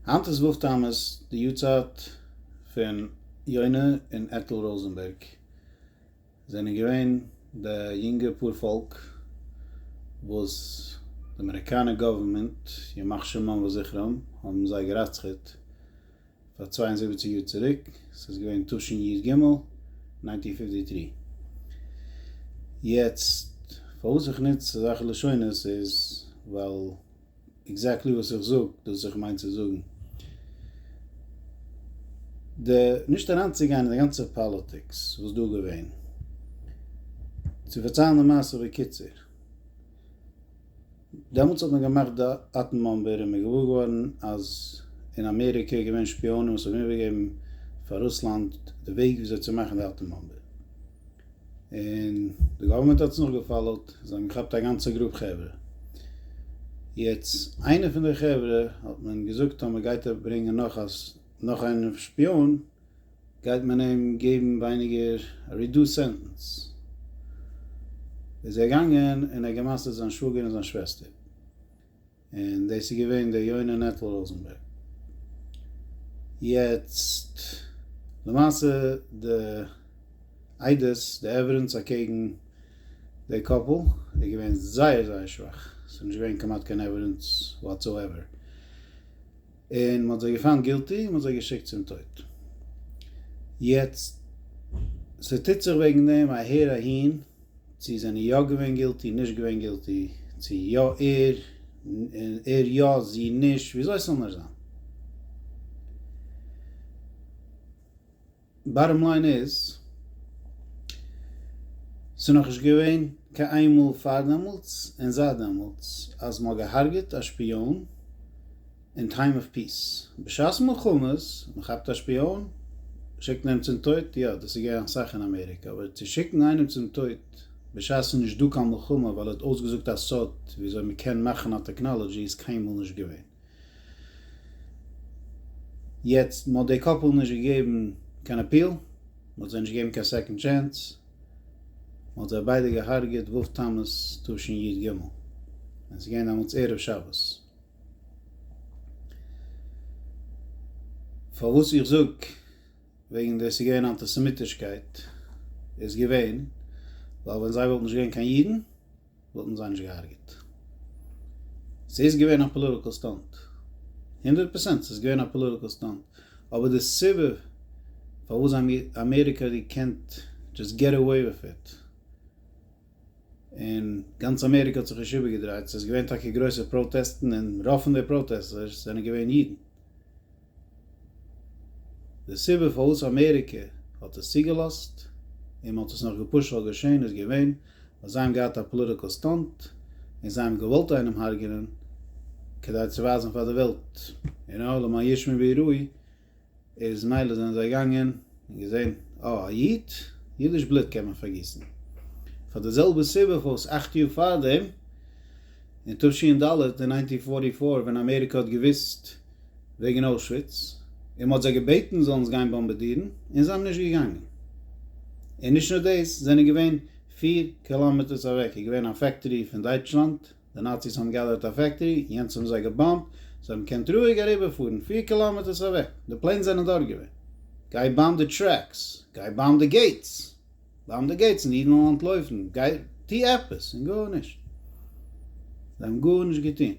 היינט איז ו' תמוז, די יארצייט פון יונה און עטל ראזענבערג, זענען געווען די יונגע פאר פאלק וואס די אמעריקאנע גאווערמענט, ימח שמם וזכרם, האבן זיי גע'רצח'עט פאר צוויי און זיבעציג יאר צוריק, ס'איז געווען תשנ י ג, ניינטין פיפטי טרי. יעצט, פארוואס איך נוץ אזעלכע לשונות איז ווייל. עקזעקטלי וואס איך זאג דאס וואס איך מיין צו זאגן. די נישט אריינצוגיין אין די גאנצע פאליטיקס וואס דא געווען. צו פארציילן די מעשה בקיצור. דעמאלטס האט מען געמאכט די אטעם באמבער און מען איז געוואר געווארן אז אין אמעריקע איז געווען שפיאנען וואס האבן איבערגעגעבן פאר רוסלאנד די וועג וויאזוי צו מאכן די אטעם באמבע. און די גאווערמענט האט עס נאך געפאלאוט, זיי האבן געכאפט א גאנצע גרופ חברה, יעצט איינע פון די חברה האט מען געזאגט אז מען גייט אויף ברענגען נאך א נאך איינע שפיאן גייט מען אים געבן ווייניגער רידוסט סענטענס, איז ער געגאנגען און ער האט גע'מסר'ט זיין שוואגער און זיין שוועסטער. און דאס איז געווען דער יונה נטל ראזענבערג. יעצט למעשה די עדות די עווידענס אקעגן די קאפל איז געווען זייער זייער שוואך, עס איז נישט געווען כמעט קיין עווידענס וואטסאועווער, און מען האט זיי געפאנט גילטי און מען האט זיי געשיקט צום טויט. יעצט ס'טוט זיך וועגן דעם אהער אהין. צו זענען יא געווען גילטי נישט געווען גילטי, צו יא ער, ער יא זי נישט, וויאזוי ס'זאל נאר זיין. באטאם ליין איז, ס'איז נאכנישט געווען קיין איין מאל פאר דעמאלטס און זייט דעמאלטס אז מ'האט געהארגעט א שפיאן אין טיים אוו פיס. בשעת מלחמות, מען כאפט א שפיאן, שיקט מען אים צום טויט, יא, דאס איז געווען אסאך אין אמעריקע, אבער צו שיקן איינעם צום טויט בשעת ס'איז נישט דא קיין מלחמה ווייל ער האט אויסגעזאגט א סוד וויאזוי מען קען מאכן א טעקנאלעדזשי איז קיינמאל נישט געווען. יעצט, מען האט די קאפל נישט געגעבן קיין אפיעל, מען האט זיי נישט געגעבן קיין סעקאנד טשענס, מען האט זיי ביידע געהארגעט ו' תמוז תשי ג, און ס'איז געווען דעמאלטס ערב שבת. פארוואס איך זאג וועגן די ס'איז געווען אנטיסעמיטישקייט איז געווען ווייל ווען זיי וואלטן נישט געווען קיין אידן וואלטן זיי נישט געהארגעט. ס'איז געווען א פאליטיקעל סטאנט. הונדערט פערסענט ס'איז געווען א פאליטיקעל סטאנט. אבער די סיבה פארוואס אמעריקע האט געקענט דזשאסט געט עוועי וויט איט און גאנץ אמעריקע האט זיך נישט איבערגעדרייט, ס'איז געווען טאקע גרויסע פראטעסטן און רוב פון די פראטעסטערס זענען געווען אידן. די סיבה פארוואס אמעריקע האט עס צוגעלאזט און מען האט עס נאך געפאשט זאל געשען איז געווען ווייל זיי האבן געהאט א פאליטיקעל סטאנט און זיי האבן געוואלט איינעם הרג'נען כדי צו ווייזן פאר די וועלט, און העולם הישמע ויראי. איז מילא זענען זיי געגאנגען און געזען אה א איד, אידיש בלוט קען מען פארגיסן. פאר די זעלבע סיבה פארוואס אכט יאר פארדעם אין תשי ד, אין נײַנצן הונדערט פֿארטי פֿיר, ווען אמעריקע האט געוואוסט וועגן אוישוויץ, און מ'האט זיי געבעטן זאלן עס גיין באמבעדירן, און זיי האבן נישט געגאנגען. און נישט נאר דאס, זענען געווען פֿיר קילאמעטערס אוועק איז געווען א פעקטארי פון דייטשלאנד, די נאציס האבן געאדערט א פעקטארי, יענץ האבן זיי געבאמבט, זיי האבן געקענט רואיג אריבערפארן פֿיר קילאמעטערס אוועק, די פלענס זענען דארט געווען. גיי באם די טרעקס, גיי באם די געיטס, באם די געיטס און אידן וועלן אנטלויפן, גיי טו עפעס, און גארנישט, זיי האבן גארנישט געטון.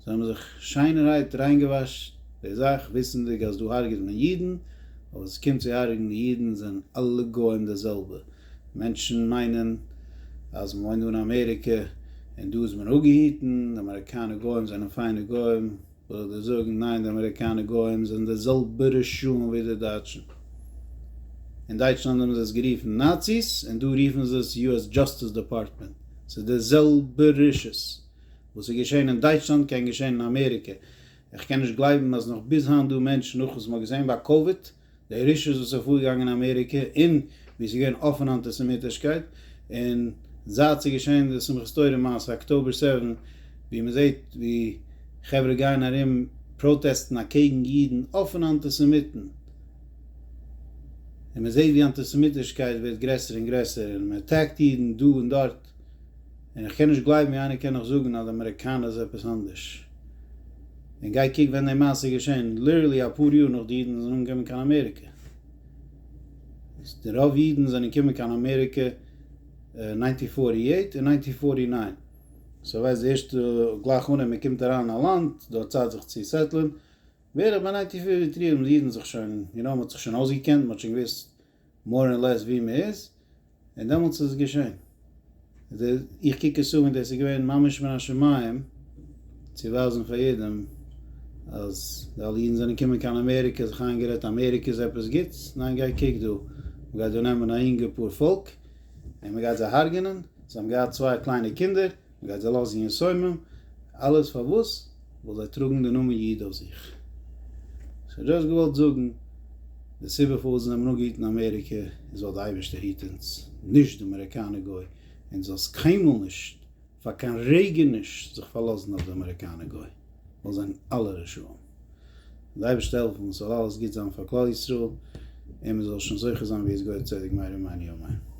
זיי האבן זיך שיינערהייט ריינגעוואשט די זאך, וויסענדיג אז דא הרג'ט מען אידן, אבער ווען ס'קומט צו הרג'ן אידן זענען אלע גוים די זעלבע, מענטשן מיינען אז מען וואוינט דא אין אמעריקע און דא איז מען אפגעהיטן, די אמעריקאנע גוים זענען פיינע גוים, וויל איך דיר זאגן, ניין די אמעריקאנע גוים זענען די זעלבע רשעים ווי די דייטשן, אין דייטשלאנד האבן זיי עס גערופן נאציס און דא רופן זיי עס יו עס דזשאסטיס דעפארטמענט, ס'איז די זעלבע רשעות, וואס איז געשען אין דייטשלאנד קען געשען אין אמעריקע, איך קען נישט גלייבן אז נאך ביז היינט דא מענטשן נאך וואס מ'האט געזען ביי קאוויד די רישעות וואס איז פארגעגאנגען אין אמעריקע און ווי עס איז געווען אפענע אנטיסעמיטישקייט און זייט ס'איז געשען די שמחת תורה מעשה אקטאבער סעווען ווי מ'זעט ווי חברה גייען ארום פראטעסטן אקעגן אידן אפענע אנטיסעמיטן און מ'זעט ווי אנטיסעמיטישקייט ווערט גרעסער און גרעסער און מ'עטעקט אידן דא און דארט. און כ'קען נישט גלייבן ווי איינער קען נאך זאגן אז די אמעריקאנער איז עפעס אנדערש. און גיי קוק ווען די מעשה איז געשען, ליטערלי אפאר יאר נאך די אידן זענען אנגעקומען קיין אמעריקע. די רוב אידן זענען געקומען קיין אמעריקע אין ניינטין פארטי עיט און ניינטין פארטי ניין. סאו ווייסט די ערשטע גלייך אנהייב מען קומט אריין אין א לאנד, דו האסט צייט זיך צו סעטלען, בערך ביי ניינטין פארטי טרי האבן די אידן זיך שוין, יו נאו, מ'האט זיך שוין אויסגעקענט, מ'האט שוין געוואוסט מאר און לעס ווי מען איז, און דעמאלטס איז עס געשען. איך קוק עס אן ווי דאס איז געווען ממש מן השמים צו ווייזן פאר יעדעם אז די אלע אידן זענען געקומען קיין אמעריקע זיך איינגערעדט אמעריקע איז עפעס גוטס, ניין גיי קוק דא, מען גייט דא נעמען א אינגע פאר פאלק און מען גייט זיי הרג'ענען, זיי האבן געהאט צוויי קליינע קינדער. מען גייט זיי לאזן יסומים, אלעס פארוואס? ווייל זיי טראגן די נאמען איד אויף זיך. סאו דזשאסט געוואלט זאגן, די סיבה פארוואס אונז נעמען אן געהיט אין אמעריקע איז ווייל די אייבערשטער היט אונז, נישט די אמעריקאנע גוי, און זאלסט קיינמאל נישט, פאר קיין רגע נישט, זיך פארלאזן אויף די אמעריקאנע גוי, ווייל זיי זענען אלע רשעים. די אייבערשטער העלפן ס'זאל אלעס גוט זיין פאר כלל ישראל, און מען זאל שוין זוכה זיין ווי עס געהויערט צדק מהר א מיני ימינו.